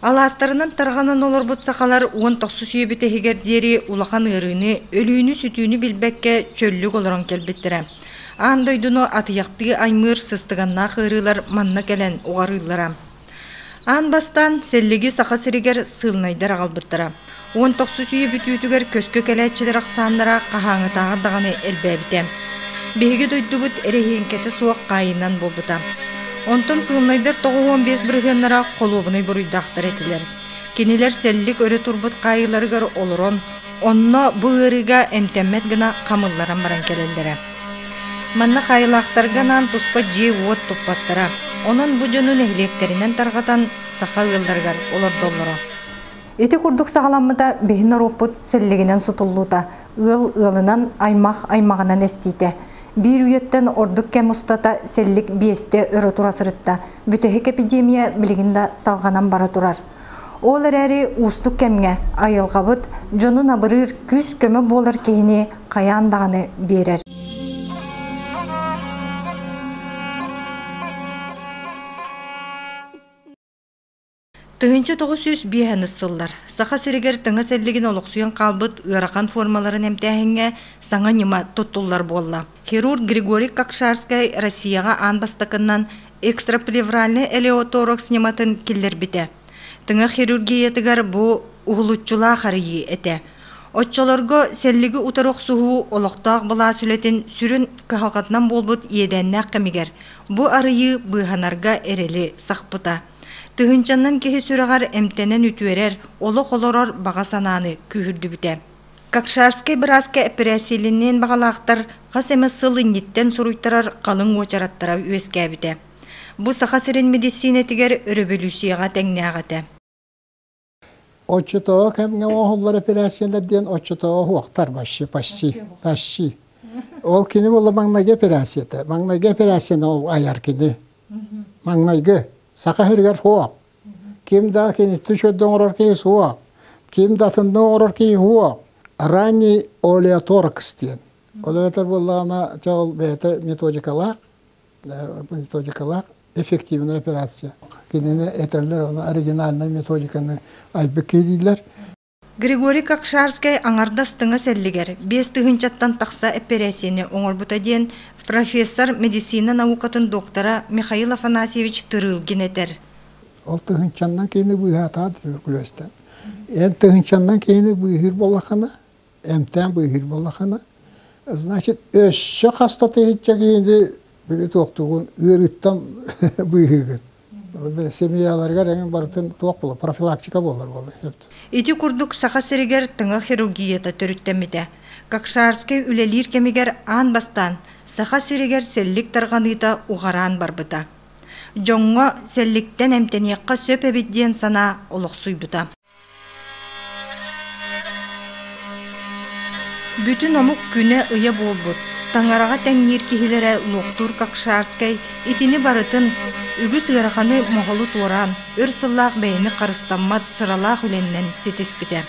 Алаастарынан тарҕанан олорбут сахалар уон тохсус үйэбит иһигэр диэри улахан ыарыыны, өлүүнү-сүтүүнү билбэккэ чөллүк олорон кэлбиттэрэ. Аан дойдуну атыйахтыы аймыыр сыстыганнаах ыарыылар манна кэлэн уҕарыыллара. Аан бастаан сэллиги Саха сиригэр сыылынайдар аҕалбыттара. Уон тохсус үйэ бүтүүтүгэр көскө кэлээччилэр ахсааннара хаһааҥҥытааҕар даҕаны элбээбитэ. Биһиги дойдубут эрэһиэҥкэтэ суох хаайыннан буолбута. Онтон сыылынайдар тоҕус уон биэс бырыһыаннара холуобунай буруйдаахтар этилэр. Кинилэр сэллик өрө турбут хаайыыларыгар олорон, онно бу ыарыыга эмтэммэт гына хамылларан баран кэлэллэрэ. Манна хаайылаахтарга анаан туспа дьиэ-уот туппаттара. Онон бу дьону нэһилиэктэринэн тарҕатан саха ыалларыгар олордоллоро. Ити курдук саҕаламмыта биһи норуоппут сэллигинэн сутуллуута, ыал ыалынан, аймах-аймаҕынан эстиитэ. Биир үйэттэн ордук кэм устата сэллик биэстэ өрө тура сырытта, бүтэһик эпидемия билигин да салҕанан бара турар. Ол эрээри уустук кэмҥэ айылҕабыт дьонун абырыыр күүс-көмө буолар киһини хайаан даҕаны биэрэр. Тыһыынча тоҕус сүүс биэс аныс сыллар Саха сиригэр тыҥыс эллигин олохсуйан хаалбыт ыарахан формаларын эмтээһиҥҥэ саҥа ньыма туттуллар буолла. Хирург Григорий Кокшарскай Россияҕа аан бастакынан экстраплевральный элеоторакс ньыматын киллэрбитэ. Тыҥа хирургиятыгар бу уһулуччулаах арыйыы этэ. Оччолорго сэллиги утары охсуһуу олохтоох былаас үлэтин сүрүн кыһалҕатынан буолбут иэдээннээх кэмигэр бу арыйыы быыһанарга эрэли сахпыта. Тыһыынчаннан киһи сүрэҕэр эмтэнэн үтүөрэр, олох олорор баҕа санааны күүһүрдүбүтэ. Кокшарскай бырааска эпэрээссийэлиниэн баҕалаахтар хас эмэ сыл инниттэн суруйтарар халыҥ уочараттара үөскээбитэ. Бу Саха сирин мэдиссиинэтигэр өрөбөлүүссүйэҕэ тэҥнээх этэ. Оччотооҕу кэмҥэ оҥоһуллар эпэрээссийэлэр диэн оччотооҕу оһуохтар вообще почти почти ол кини буолла маҥнайгы эпэрээссийэтэ маҥнайгы эпэрээссийэни айар кини маҥнайгы саха сиригэр суох ким да киниттэн сүрдэ оҥорор киһи суох ким да атынна оҥорор киһи суох ранний олеоторакс диэн ол эбэтэр буоллаҕына чэ ол бэйэтэ методикалаах методикалар эффективнай операция. Кинини этэллэр ол оригинальнай методиканы айбыкки дииллэр. Григорий Какшарский аҥардас тыҥас эллигэр биэс тыһыынчаттан тахса эппэрээссийэни оҥорбута диэн профессор медицина наукатын доктора Михаил Афанасьевич Тырылгин этэр. Ол тыһыынчаннан киһини быыһаатаҕа күлүөстэн. Эн тыһыынчаннан киһини быыһыыр болахана эмтээн быыһыыр буоллахына, значит, өссө хастатыһычча киһини били туохтугун ыарыыттан быыһыыгын. Семьяларыгар эҥин барытын туох була профилактика буолар буолла Ити курдук Саха сиригэр тыҥа хирургията төрүттэммитэ. Какшарский үлэлиир кэмигэр аан бастаан Саха сиригэр сэллик тарҕаныыта уҕараан барбыта. Дьоҥҥо сэлликтэн эмтэниэххэ сөп эбит диэн санаа олохсуйбута. Бүтүн омук күнэ-ыйа буолбут Таҥараҕа тэҥниир киһилэрэ Луохтуур Какшарскай итини барытын үгүс ыараханы моһолу туораан, өр сыллаах бэйэни харыстаммат сыралаах үлэннэн ситиспитэ.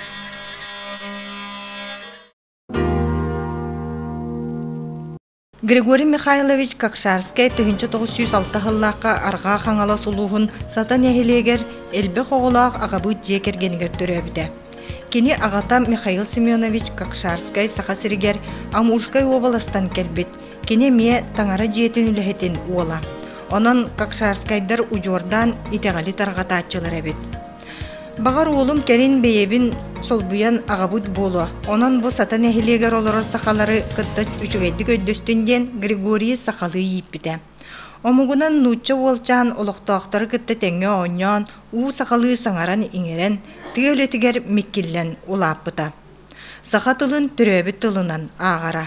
Григорий Михайлович Какшарскай тыһыынча тоҕус сүүс алта сыллаахха Арҕаа Хаҥалас улууһун Сата нэһилиэгэр элбэх оҕолоох аҕабыыт дьиэ кэргэнигэр төрөөбүтэ. Кини аҕата Михаил Семенович Какшарскай Саха сиригэр Амурскай уобаластан кэлбит. Кини эмиэ таҥара дьиэтин үлэһитин уола. Онон Какшарскайдар удьуордаан итэҕэли тарҕатааччылар эбит. Баҕар уолум кэлин бэйэбин солбуйан аҕабыт буолуо, онон бу Сата нэһилиэгэр олорор сахалары кытта үчүгэйдик өйдөстүн диэн Григорий сахалыы ииппитэ. Омугунан нуучча уолчаан олохтоохтору кытта тэҥҥэ оонньоон, уу сахалыы саҥаран-иҥэрэн, тыа үлэтигэр миккиллэн улааппыта. Саха тылын төрөөбүт тылынан ааҕара.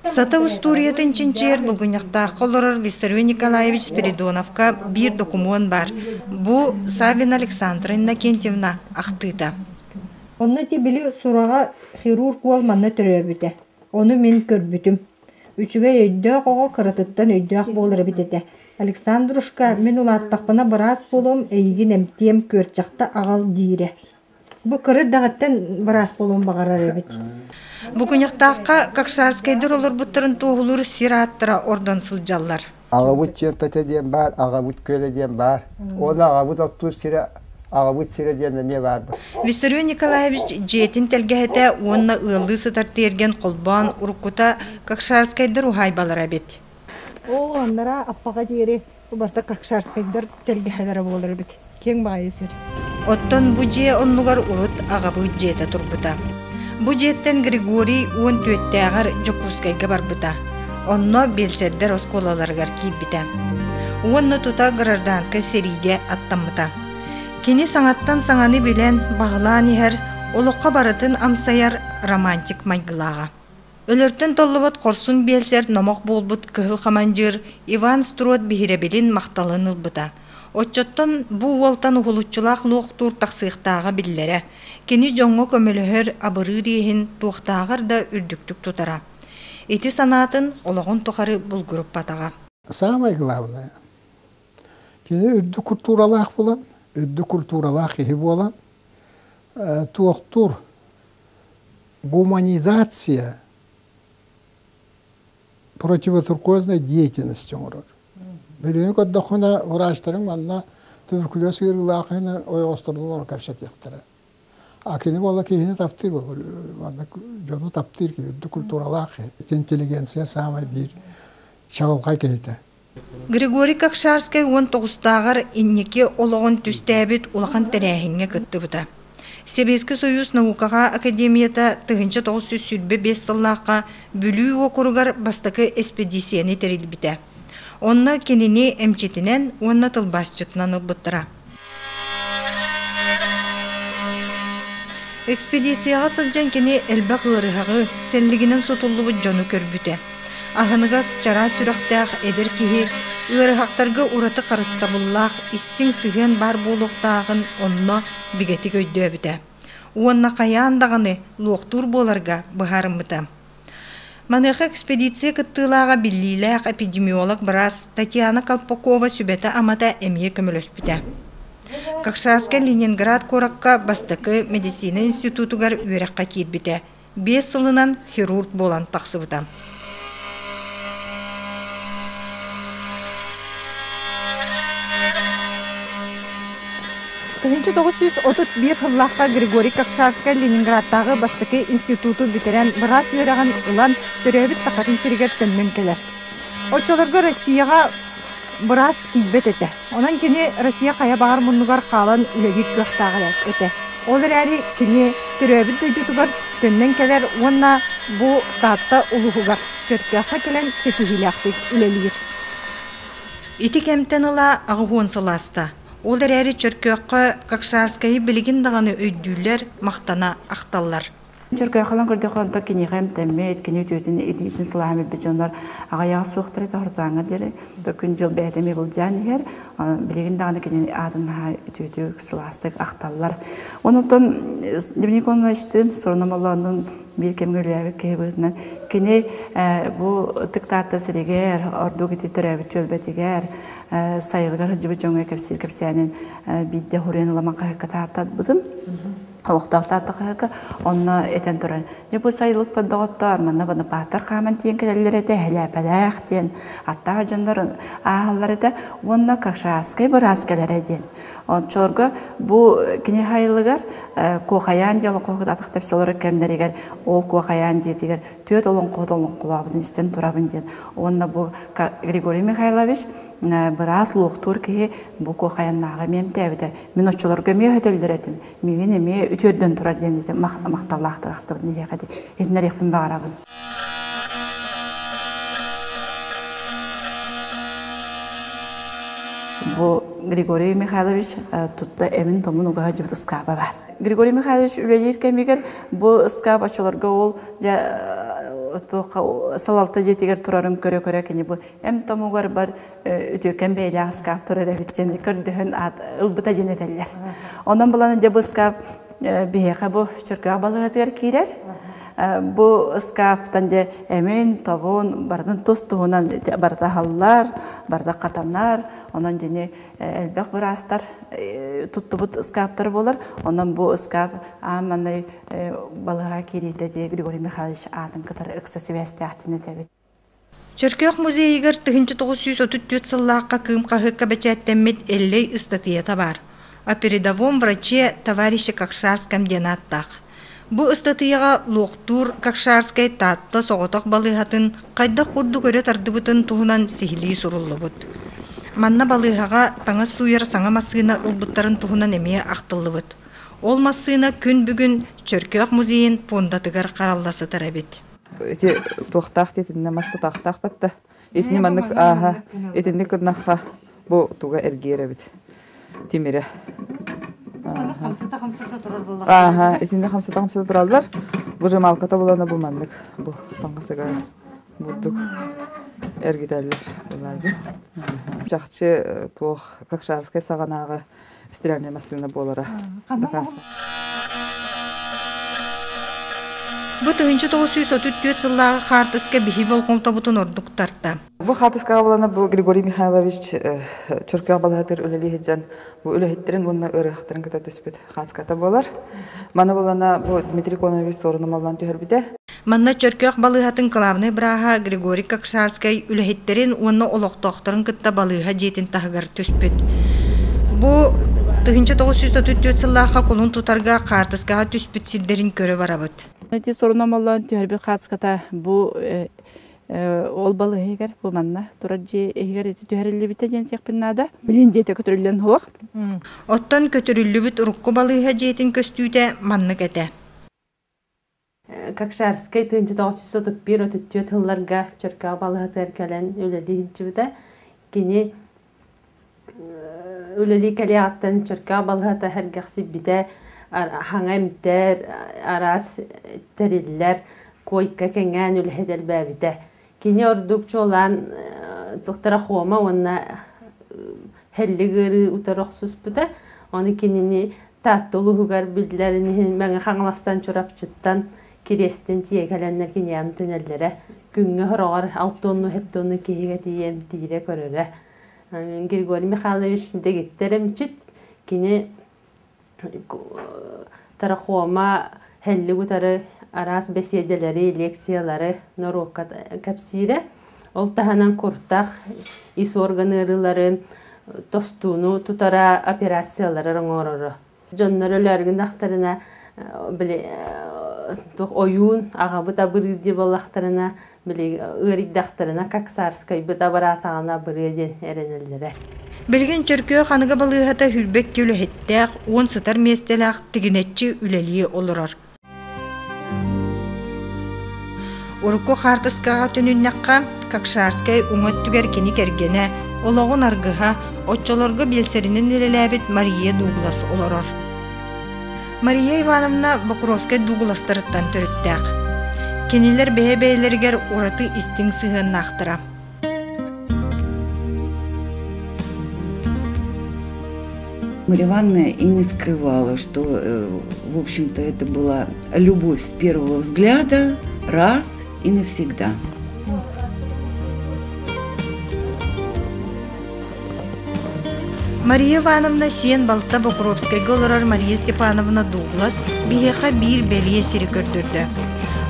Сата устуоруйатын чинчийэр Булгунньахтаахха олорор Виссарий Николаевич Спиридоновка биир докумуон баар. Бу Савина Александра Иннокентьевна ахтыыта. Онно ити били сураҕа хирург уол манна төрөөбүтэ. Ону мин көрбүтүм. Үчүгэй өйдөөх оҕо кыратыттан өйдөөх буолар эбит этэ. Александрушка, мин улааттахпына быраас буолуом, эйигин эмтиэм, күөрчэхтэ аҕал диирэ. Бу кыра даҕаттан быраас буолуон баҕарар эбит. Бу күньахтаахха Какшарскайдар олорбуттарын туоһулуур сир ааттара ордон сылдьаллар. Аҕабыт Чиэппэтэ диэн баар, аҕабыт Күөлэ диэн баар. Уонна аҕабыт оттуур сирэ, аҕабыт сирэ диэн эмиэ баарбыт. Виссарион Николаевич дьиэтин тэлгэһэтэ уонна ыаллыы сытар тиэргэн холбоон уруккута какшарскайдар уһаайбалара эбит. Оо, анараа аппаҕа диэри убарта кокшарскайдар тэлгэһэлэрэ буолар эбит. Киэҥ баайы сир. Оттон бу дьиэ оннугар урут аҕабыт дьиэтэ турбута. Бу дьиэттэн Григорий уон түөттээҕэр Дьокуускайга барбыта. Онно бельсердэр оскуолаларыгар киирбитэ. Уонна тута гражданскай сэриигэ аттаммыта. Кини саҥаттан саҥаны билэн, баһылаан иһэр, олоххо барытын амсайар романтик майгылааҕа. Өлөртөн толлубут хорсун биэлсэр номох буолбут кыһыл хамандьыыр Иван Строд биһирэбилин махталын ылбыта. Оччоттон бу уолтан уһулуччулаах луохтуур тахсыахтааҕа биллэрэ. Кини дьоҥҥо көмөлөһөр абырыыр иэһин туохтааҕар да үрдүктүк тутара. Ити санаатын олоҕун тухары булгуруппатаҕа. Саамай главное, кини үрдүк культуралаах булан, үрдүк культуралаах киһи буолан, туохтуур гуманизация противотуркуознай деятельности оҥорор. Билигин көрдөххүнэ, врачтарың манна туберкулез ыарыылаахыны ойоҕостордолор кэпсэтиэхтэрэ. А кини буола киһини таптыыр болур. Манна дьону таптыыр киһи, культуралаах киһи. Интеллигенция саамай биир чаҕылхай киһитэ. Григорий Кокшарскай уон тоҕустааҕар инники олоҕун түстээбит улахан тэрээһиҥҥэ кыттыбыта. Сэбиэскэй Союз наукаҕа академията тыһыынча тоҕус сүүс сүүрбэ биэс сыллаахха Бүлүү уокуругар бастакы эспэдииссийэни тэрийбитэ. Онно кинини эмчитинэн уонна тылбаасчытынан ылбыттара. Экспедицияҕа сылдьан кини элбэх ыарыһаҕы, сэллигинэн сутуллубут дьону көрбүтэ. Аһыныгас, чараас сүрэхтээх эдэр киһи ыарыһахтарга ураты харыстабыллаах, истиҥ сыһыан баар буолуохтааҕын онно бигэтик өйдөөбүтэ. Уонна хайаан даҕаны луохтуур буоларга быһаарыммыта. Маныаха экспедиция кыттыылааҕа биллиилээх эпидемиолог быраас Татьяна Колпакова сүбэтэ-амата эмиэ көмөлөспүтэ. Какшанскай Ленинград куоракка бастакы медицина институтугар үөрэххэ киирбитэ. Биэс сылынан хирург буолан тахсыбыта. тыһыынча тоҕус сүүс отут биир сыллаахха григорий кокшарскай ленинградтааҕы бастакы институту бүтэрэн быраас үөрэҕин ылан төрөөбүт сахатын сиригэр төннөн кэлэр оччолорго россияҕа быраас тиийбэт этэ онон кини россия хайа баҕар муннугар хаалан үлэлиир кыахтаах этэ ол эрээри кини төрөөбүт дойдутугар төннөн кэлэр уонна бу таатта улууһугар чөркөөххө кэлэн ситиһиилээхтик үлэлиир Ити кэмтэн ыла аҕыс уон сыл ааста. Ол эрээри Чөркөөххө Какшарскайы билигин даҕаны өйдүүллэр, махтана ахталлар. Чөркөөххөлөн көрдөххө, онтон киниэхэ эмтэммит, кини үтүөтүн илиитин сылааһын билбит дьоннор аҕыйаҕа суохтара тоһортооҥҥо диэри күн-дьыл бэйэтэ миһулдьаан иһэр. Билигин даҕаны кини аатын наһаа үтүөтүк, сылаастык ахталлар. Онуттан Доминик Ивановичтыын Суронум Олооннуун биир кэмҥэ үлэлээбит киһи быһыытынан кини бу ытык Таатта сиригэр, ордук ити төрөөбүт түөлбэтигэр, сайылыгар сылдьыбыт дьоҥҥо кэпсиир кэпсээнин биирдэ уруйан ылан хаһыакка тааттарбытым. Олохтоох Таатта хаһыакка онно этэн туран дьэ бу сайылык доҕоттоор манна Бонапааттар хааман тиийэн кэлэллэр этэ Хэлээпэлээх диэн аттаах дьоннор ааһаллар этэ уонна Кашарскай быраас кэлэрэ диэн Ончорго бу кини хайылыгар Куохайаан дьолоқоһугут атахтар солору кэмнэригэр ол Куохайаан дьиэтигэр түөрт олоҥхоһут олоҥхолообутун истэн турабын диэн уонна бу Григорий Михайлович быраас луохтуур киһи бу Куохайаннааҕы миэмтээбитэ мин оччолорго эмиэ өтөллөр этим миигин эмиэ үтүөрдэн турар диэн дии махталлаах тырахтыбын эһиэхэ итиннэриэхпин баҕарабын Бу Григорий Михайлович тутта эмин-томун угаһадьыбыт ыскааба баар. Григорий Михайлович үлэлиир кэмигэр бу ыскаап очолорго ол салалта дьиэтигэр турарын көрө-көрө кини бу эмтомугар бар үтүөкэн бэйэлээх ыскаап турар эбит диэн көрдөһөн ылбыта диэн этэллэр. Онон булан дьэ бу ыскаап биһиэхэ бу Чөркөөх балыгатыгар киирэр. Бу ыскааптан дьэ эмин-тобун барытын тус-туһунан барыта аһаллар, барыта хатанар. Онон дьини элбэх быраастар туттубут ыскааптары буолар. Онон бу ыскаап аан маҥнай балыһа киириитэ дьэ Григорий Михайлович аатын кытары ыкса сибээстээхтиин этэбит. Чөркөөх музейыгар тыһыынча тоҕус сүүс отут түөрт сыллаахха Кыым хаһыакка бэчээттэммит Эллэй ыстатыйата баар «О передовом враче товарище Какшарском» диэн ааттаах. Бу ыстатыйаҕа луохтуур Какшарскай Таатта соҕотох балыыһатын хайдах курдук өрө тардыбытын туһунан сиһилии суруллубут. Манна балыыһаҕа таҥас сууйар саҥа массыына ылбыттарын туһунан эмиэ ахтыллыбыт. Ол массыына күн бүгүн Чөркөөх музейын пуондатыгар харалла сытар эбит. ити туохтаах диэтиннэ мас тутаахтаахпат да итини маннык ааһа итинник гыннахха бу туга эргиэр эбит тимирэ хамсата хамсата турар буолла ааха итинни хамсата хамсата тураллар выжималката булана бу маннык бу таҥасыга бурдук эргитэллэр чахчы туох какшарскай саҕанааҕы стиральная массыына буолара Бу тыһынчы тоҕус сүүс отут түөрт сыллааҕы хаартыска биһи болҕомтобутун ордук тарта. Бу хаартыскаҕа булана бу Григорий Михайлович Чуркех балаһатыр үлэлиһиджан бу үлэһиттерин уонна ырыхтарын кыта түспүт хаанската буолар. Маны булана бу Дмитрий Конович сорунумаллан түһэрбите. Манна Чөркөөх балыыһатын кылаабынай бырааһа Григорий Кокшарскай үлэһиттэрин уонна олохтоохторун кытта балыыһа дьиэтин таһыгар түспүт. Бу тыһыынча тоҕус сүүс отут түөрт сыллаахха кулун тутарга хаартыскаҕа түспүт сирдэрин көрө барабыт. Ити соруномоллоон түһэрбит хаацката бу э, э, ол балыһыгар бу манна турар дьиэ иһигэр ити түһэриллибитэ диэн тиэхпин наада. Билин дьиэтэ көтүрүллэн хуох. Оттон көтүрүллүбүт урукку балыыһа дьиэтин көстүүтэ маннык этэ. Кокшарскай тыынчыта отчус отут биир отут түөрт сылларга Чөркөөх балаһатыгар кэлэн үлэлии сылдьыбыта. Кини үлэлии кэлиэҕиттэн Чөркөөх балаһата эргэхсийбитэ, хаҥа эмтэр, араас тэриллэр, куойка кэҥээн үлэһит элбээбитэ. Кини ордук чуолаан туттара Хома уонна Хellиг ыарыы утары охсуспута. Ону кинини Таатта улууһугар биллэрин иһин Мэҥэ Хаҥаластан Чурапчыттан Кириэстин тиэгэлэннэр кини эмтэнэллэрэ. Күҥҥэ сороҕор алтонну-хеттонну киһигэ тиийэ эмтиирэ, көрөрө. Григорий Михайлович дэгиттэр эмчит. Кини Трахома һэллиги утары араас бэсиэдэлэри, лекциялары норуокка кэпсиирэ. Ол таһынан куртах, ис орган ыарыыларын, тостууну тутара операциялары оҥороро. Дьоннор өлөөргүннэхтэринэ, били ойуун, аҕабыт абырыыр дии буоллахтарына, били ыарыйдахтарына Каксарскайбыт абыраатаҕына бырыа диэн эрэнэллэрэ. Билигин Чөркөөх аныгы балыыһата Хүрбэкки үлэһиттээх, уон сытар миэстэлээх тигинэччи үлэлии олорор. Урукку хаартыскаҕа төнүннэххэ, Какшарскай уҥа өттүгэр кини кэргэнэ, олоҕун аргыһа, оччолорго биэлсэринэн үлэлээбит Мария Дуглас олорор. Мария Ивановна Бокуровскай дугуластарыттан төрүттээх. Кинилэр бэйэ-бэйэлэригэр ураты истиҥ сыһыаннаахтара. Марья Ивановна и не скрывала, что, э, в общем-то, это была любовь с первого взгляда раз и навсегда. Мария Ивановна сиэн балта Бокуровскайга олорор Мария Степановна Дуглас биһиэхэ биир бэлиэ сири көрдөрдө.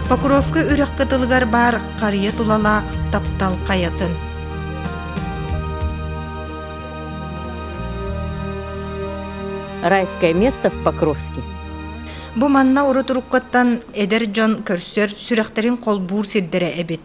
Покровка үрэх кытылыгар баар харыйа тулалаах таптал хайатын. Райское место в Покровске. Бу манна урут уруккаттан эдэр дьон көрсөр, сүрэхтэрин холбуур сирдэрэ эбит.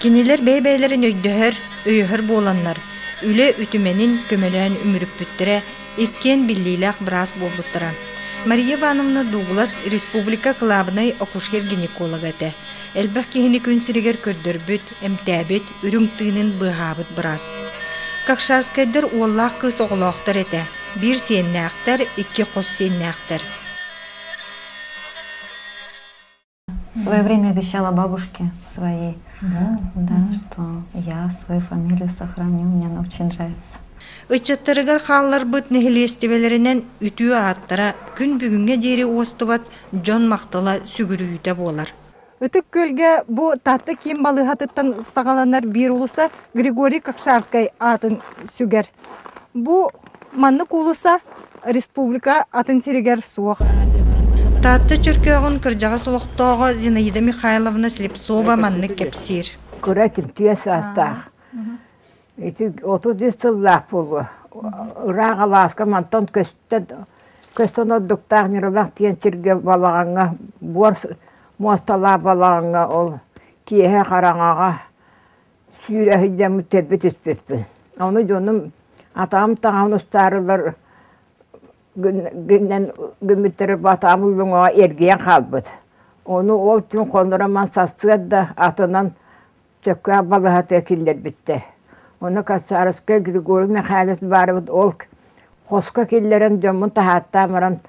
Кинилэр бэйэ-бэйэлэрин өйдөһөр, өйөһөр буоланнар, үлэ үтүмэнин көмөлөөн үмүрүппүттэрэ иккиэн биллиилээх быраас буолбуттара. Мария Ивановна Дуглас республика кылаабынай акушер-гинеколога этэ. Элбэх киһини күн сиригэр көрдөрбүт, эмтээбит, үрүҥ тыынын быыһаабыт быраас. Какшанскайдар уоллаах кыыс оҕолоохтор этэ. Биир сиэннээхтэр, икки хос сиэннээхтэр. В свое время обещала бабушке своей, да, что я свою фамилию сохраню, мне она очень нравится. Ыччаттарыгар хаалларбыт нэһилиэстибэлэринэн үтүө ааттара күн бүгүҥҥэ диэри уостубат дьон махтала сүгүрүйүүтэ буолар. Ытык Күөлгэ бу Таатта киин балыыһатыттан саҕаланар биир улуса Григорий Кокшарскай аатын сүгэр. Бу Маннык уулусса республика атын сиригэр суох. Таатта Чөркөөҕүн кырдьаҕас олохтооҕо Зинаида Михайловна Слепцова маннык кэпсиир. Кыра тимтиэ саастаах. Ити отут үс сыллаах буолуо. Ыраах алааска мантан көстөн көстөн ордуктаах Ньуралах диэн сиргэ балаҕаҥҥа буор муосталаах балаҕаҥҥа ол киэһэ хараҥаҕа сүүрэ сылдьаммыт сирбэ түспүппүн. Ону дьонум атаҕым таҥаһын устаарылар гыннан гыммыттара атаҕым уллуҥаҕа эргийэн хаалбыт. Ону ол түн хонура ман сарсыарда атынан сөпкө балыһатыга киллэрбиттэр. Ону Кацаровскай Григорий Михайлович баарыбыт ол хоско киллэрэн дьоммун таһааттаан баран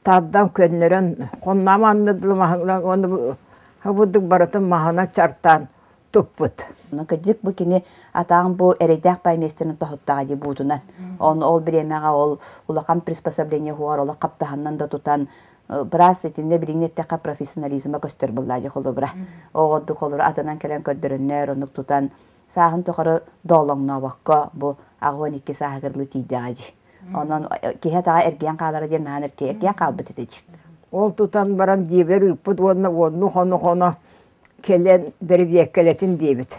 Тардан көннөрөн, хоннаам аннырдылым аһыҥнан уонна бу бурдук барытын маһынан чартаан туппут. Кырдьык бу кини атаҕым бу эрэйдээх баай миэстэнэн тоһуттаҕа дии буутунан. Ону ол бириэмэҕэ ол улахан приспособление уһугар олох хаптаһыннан да тутан быраас итиннэ билиҥҥи эттэххэ профессионализма көстөр буоллаа дии холобура. Оҕо ордук холобура атынан кэлэн көрдөрөннөр, оннук тутан сааһын тухары доолоҥнообокко бу аҕыан икки сааһы кырлы тиийдэҕэ дии. Онон киһи атаҕа эргийэн хаалара диэн наһаа эргийэн хаалбыт этэ дии. Ол тутан баран дьиэбэр ыыппыт уонна уонну хону хоно кэлэн бэрэбиэккэлэтин диэбит.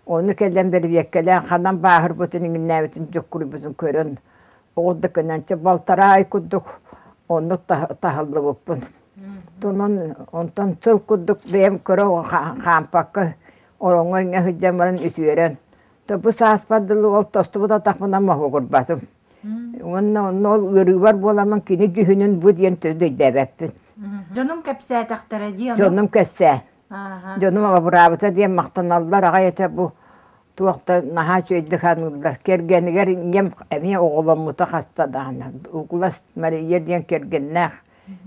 Ону кэлэн бэрэбиэккэлээн ханан бааһырбытын иҥиннээбитин дьуккуруйбутун көрөн оҕурдук көнөнчө балтараа ай курдук оннук таһыллыбыппын. Тунан онтон сыл курдук бэйэм көрө хаампакка Ороҥҥо инньэ сылдьан баран үтүөрэн, топпу сааспар дылы ол тостубут атахпынан моһуогурбатым. Уонна онно ол ыарыыбар буоламмын кини дьүһүнүн бу диэн төрүт өйдөөбөппүн. Дьонум кэпсээтэхтэрэ дии ону. Дьонум кэпсээн, Ааһа. дьонум абыраабыта диэн махтаналлар аҕай этэ бу туох да наһаа үчүгэйдик саныыллар. Кэргэнигэр ийэм эмиэ оҕоломмута хаста даҕаны. Угулас Мария диэн кэргэннээх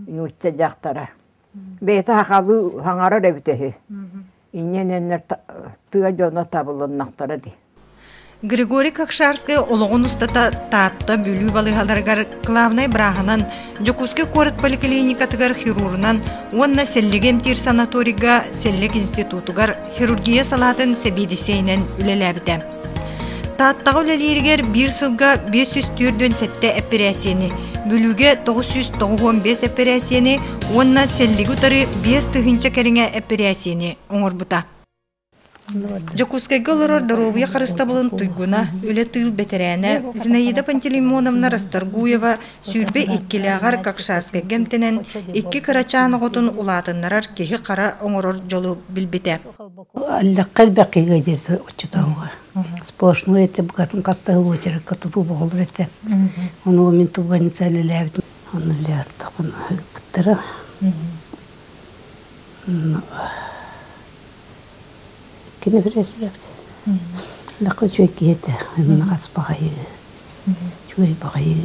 нуучча дьахтара. бэйэтэ сахалыы хаҥарар эбитэ үһү инньэнэннэр тыа дьоно табылыннахтара дии Григорий Кокшарскай олоҕун устата Таатта Бүлүү балыыһаларыгар главнай бырааһынан Дьокуускай куорат поликлиникатыгар хирурунан уонна сэллиги эмтиир санаторийга сэллик институтугар хирургия салаатын сэбиэдиссэйинэн үлэлээбитэ Тааттаҕа үлэлииригэр биир сылга биэс сүүс түөрт уон сэттэ эпэрээссийэни, Бүлүүгэ тоҕус сүүс тоҕуһуон биэс эпэрээссийэни уонна Сэллиги утары биэс тыһыынча кэриҥэ эпэрээссийэни оҥорбута. Дьокуускайга олорор доруобуйа харыстабылын туйгуна, үлэ тыыл бэтэрээнэ Зинаида Пантелеймоновна Расторгуева сүүрбэ иккилээҕэр Какшарскайга эмтэнэн, икки кырачаан оҕотун улаатыннарар киһи-хара оҥорор дьолу билбитэ. Аллахха элбэхигэ диэти оччотооҕуга сплошной ette букатын хастаһыл уочаракка тутуу боҕолор этэ онуо мин тубаницаан элээбитим аны элээттахпын аһыыппыттара кини пресс-рект лақа үчүгэй киһи этэ инна хас баҕайы үчүгэй баҕайы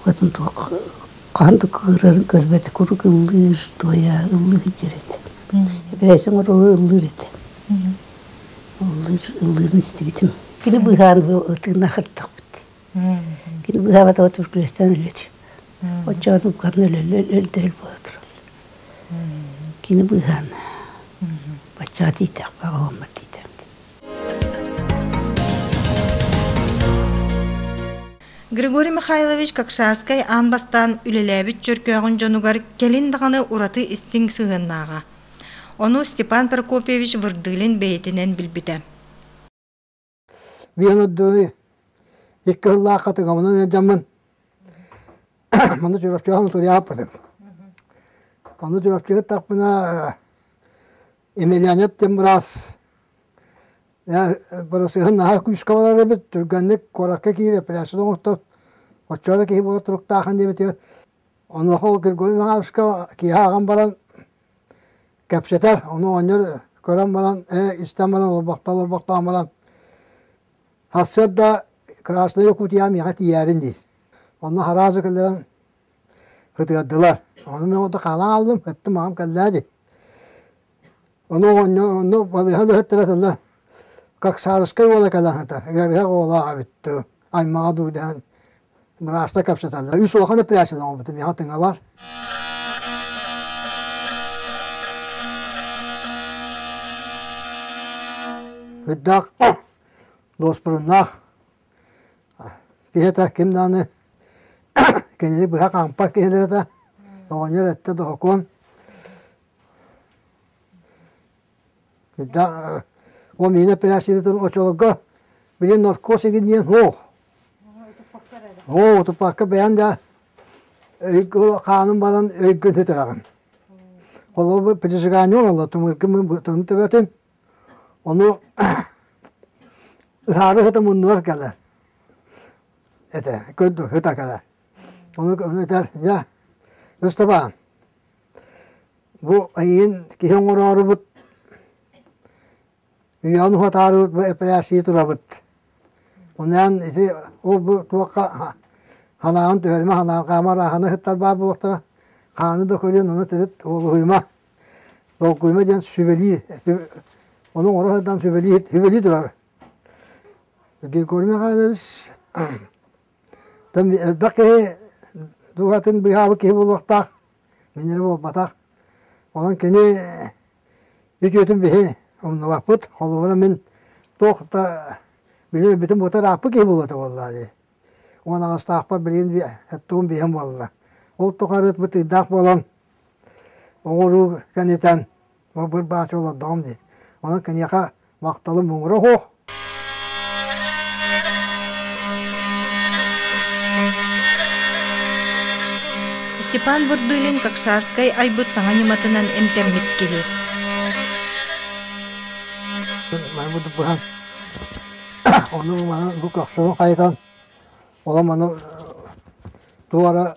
Хотон туох хаан да кыырарын көрбөтө куруук ыллыыр, туойа ыллыы сылдьар этэ. Эпэрээсин оҥорору ыллыыр этэ. Ыллыыр, ыллыырын истибитим. Кини быыһаан тыыннаах ырыттахпыт. Кини быыһаабата от бүргүрэстээн өлбөтө. Оччоҕо уккарын өлөллөр буола тураллар. Кини быыһаана. Баччаҕа тиийтээх, баҕаламмат тиийтээх. Григорий Михайлович Какшарскай аан бастаан үлэлээбит чөркөөҕүн дьонугар кэлин даҕаны ураты истиҥ сыһыаннааҕа. Ону Степан Прокопьевич Вырдылин бэйэтинэн билбитэ. Биэн үрдүнү икки ыллаахха тыгамынан эдьэммин маны Чурапчыга туриаппытым. Ону Чурапчыга тахпына Емельянов тем раз Боросыһын наһаа күүскэ барар эбит түргэнник куоракка киирэ пляжын оҥортор оччолор киһи буола туруктаахан диэбитигэр онуоха ол Григорий Михайловичка киэһэ ааҕан баран кэпсэтэр ону оонньор көрөн баран ээ истэн баран олорбохтоон олорбохтоон баран сарсыарда Красная Якутия миэхэ тиийээрин диир онно араазы кэлэрэн Ытыардылар. Ону мин онто хаалан ааллым, ыттым аҕам кэллээ дии. Ону оонньо онно балыыһа өлөһүттэрэ сылдьар. Каксарыскай уола кэлэн ыта, ыарыһах уолаах эбиттэр, аймаҕа дуу дэһэн бырааска кэпсэтэллэр. Үс улахан эппэрээссийэ оҥорбутум, миэхэ тыҥа бар. Ырдаах дуоспуруннаах Киһитэ ким даҕаны кинини быһа хаампат киһилэрэ да оҕонньор эрдэ доһокуон ол миэнэ эпиляцияны туран оччолорго били наркоз игин диэн һуох һуох утуппакка бэйэн да хаанын баран өйгүн сүтэрэҕин холобур прижигание оҥолло тымыргын тымыр төбөтүн Ону ытаары ыһыта муннугар кэлэр этэ көрдү ыта кэлэр. Ону ону этэр дьэ Ыстапаан бу эйигин киһи оҥороорубут үйэҕин уһатаарыбыт бу эпэрээссийэ турабыт. Ону эн ити ол бу туохха халааҕын түһэримэ халааҥ хаама арааһаны ыһыттар баар буолуохтара хааны да көрүөн ону төрүт уолуһуйума. Волгуйма диэн сүбэлии, ону оҥоро сатаан сүбэлии, сүбэлии турар. Григорий Михайлович элбэх киһи дууһатын быыһаабыт киһи буолуохтаах, мин эрэ буолбатах. Онон кини үтүөтүн биһи умнубаппыт, холобура мин туох да билим-өйбүтүн бултар ааппыт киһи буолуо этэ буоллаҕа дии. Уон аҕыстаахпар билигин эттубун биэһим буолла. Ол тухары ытбыт ыйдаах буолан оҥоруу кэнитэн мылбыр бааччы олордоҕум дии онон киниэхэ махталым муҥура суох Степан Бурдылин Какшарскай айбыт саҥа ньыматынан эмтэммит киһи маны бурдук быһан ону манан бу көхсүн хайытан олом аны туора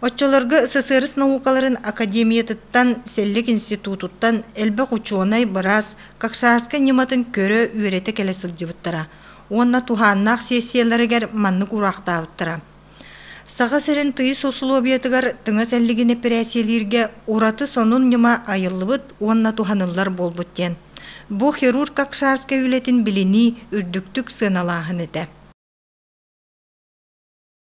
Оччолорго СССР наукаларын академиятыттан, Сэллик институтуттан элбэх учуонай быраас Какшарскай ньыматын көрө-үөрэтэ кэлэ сылдьыбыттара уонна туһааннаах сессияларыгар маннык ураахтаабыттара. Саха сирин тыйыс усулуобуйатыгар тыҥас эллигин эпэрээссийэлииргэ ураты сонун ньыма айыллыбыт уонна туһаныллар буолбут диэн. Бу хирург Какшарскай үлэтин билинии үрдүктүк сыаналааһын этэ.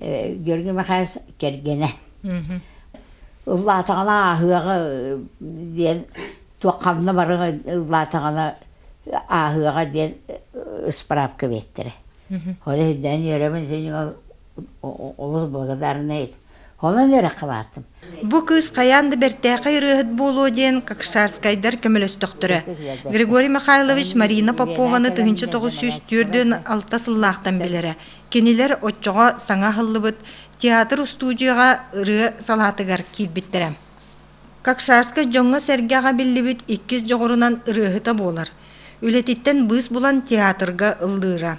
Георгий Михайлович кэргэнэ. Ыллаатаҕына ааһыаҕа диэн туох ханна барыҥа ыллаатаҕына ааһыаҕа диэн справка биэттэрэ. Хоно ирдээн үөрэбин син олус благодарный. Хонон үөрэххэ баартым. Бу кыыс хайаан да бэртээхэй ырыаһыт буолуо диэн какшарскайдар көмөлөстөхтөрө. Григорий Михайлович Марина Попованы тыһыынча тоҕус сүүс түөртүөн алта сыллаахтан билэрэ. Кинилэр оччоҕо саҥа аһыллыбыт театр устуудьуйаҕа ырыа салаатыгар киирбиттэрэ. Какшарскай дьоҥҥо-сэргэҕэ биллибит иккис дьоҕурунан ырыаһыта буолар. Үлэтиттэн быыс булан театрга ыллыыра.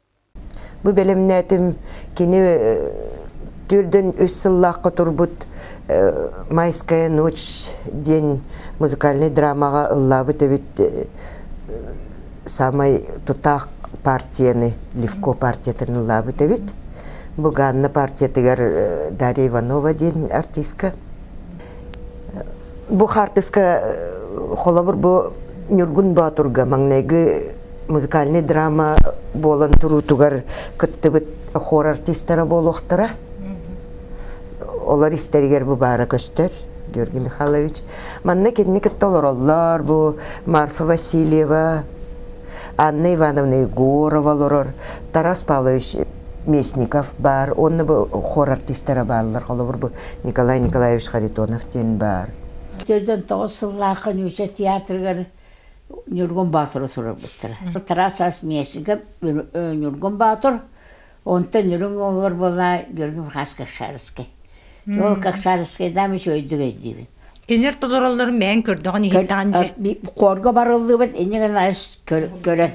Бу бэлэмнээтим кини төрдөн үс сыллаахха турбут «Майская ночь» диэн музыкальнай драмаҕа ыллаабыт эбит саамай тутаах партияны Левко партиятын ыллаабыт эбит. Бу Ганна партиятыгар Дарья Иванова диэн артыыска бу хаартыска э, холобур бу Ньургун Боотурга маҥнайгы музыкальный драма буолан туруутугар кыттыбыт хор артистара буолуохтара олор истэригэр бу баара көстөр Георгий Михайлович манна кинини кытта олороллор бу Марфа Васильева Анна Ивановна Егорова олорор Тарас Павлович Местников баар онно бу хор артистара бааллар холобур бу Николай Николаевич Харитонов диэн баар. Бүтэрдэн тоҕус сыллаахха Нюся театрыгар Ньургун Боотуру суруйбуттара. Тарас Ас Миэсигэ Ньургун Боотур, онтон Ньургун оҕолор буола Георгий Мурхас Какшарский. Ол Какшарский дамиш өйдүгэй диибин. Кинилэр толороллорун бэйэн көрдөҕүн иһиттэҕин дьэ. Хорго барыллыбыт иннигин көрөн.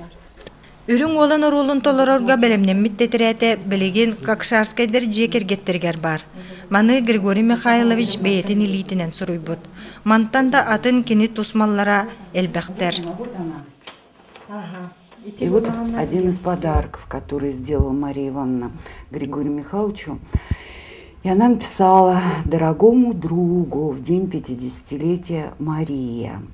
Үрүҥ уолан оруолун толорорго бэлэмнэммит тэтирээтэ билигин Какшарскайдар дьиэ кэргэттэригэр баар. Маны Григорий Михайлович бэйэтин илиитинэн суруйбут. Мантан да атын кини тусмаллара элбэхтэр. И вот один из подарков, который сделала Мария Ивановна Григорию Михайловичу, и она написала «Дорогому другу в день пятидесятилетия Мария».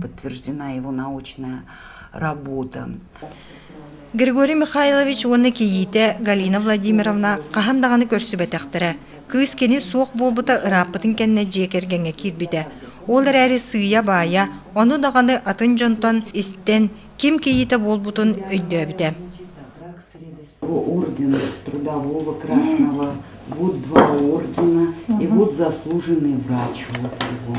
подтверждена его научная работа. Григорий Михайлович уонна кийиитэ Галина Владимировна хаһан даҕаны көрсүбэтэхтэрэ. Кыыс кини суох буолбута ырааппытын кэннэ дьиэ кэргэҥҥэ киирбитэ. Ол эрээри сыыйа-баайа, ону даҕаны атын дьонтон истэн, ким кийиитэ буолбутун өйдөөбүтэ. ордена трудового красного будут два ордена и будут заслуженные врачи вот его.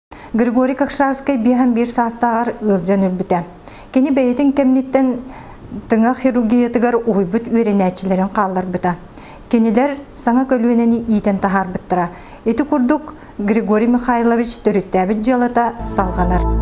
Григорий Какшавскай биэһэн биир саастааҕар ыалдьан өлбүтэ. Кини бэйэтин кэмниттэн тыҥа хирургиятыгар уһуйбут үөрэнээччилэрин хаалларбыта. Кинилэр саҥа көлүөнэни иитэн таһаарбыттара. Ити курдук Григорий Михайлович төрүттээбит дьыалата салҕанар.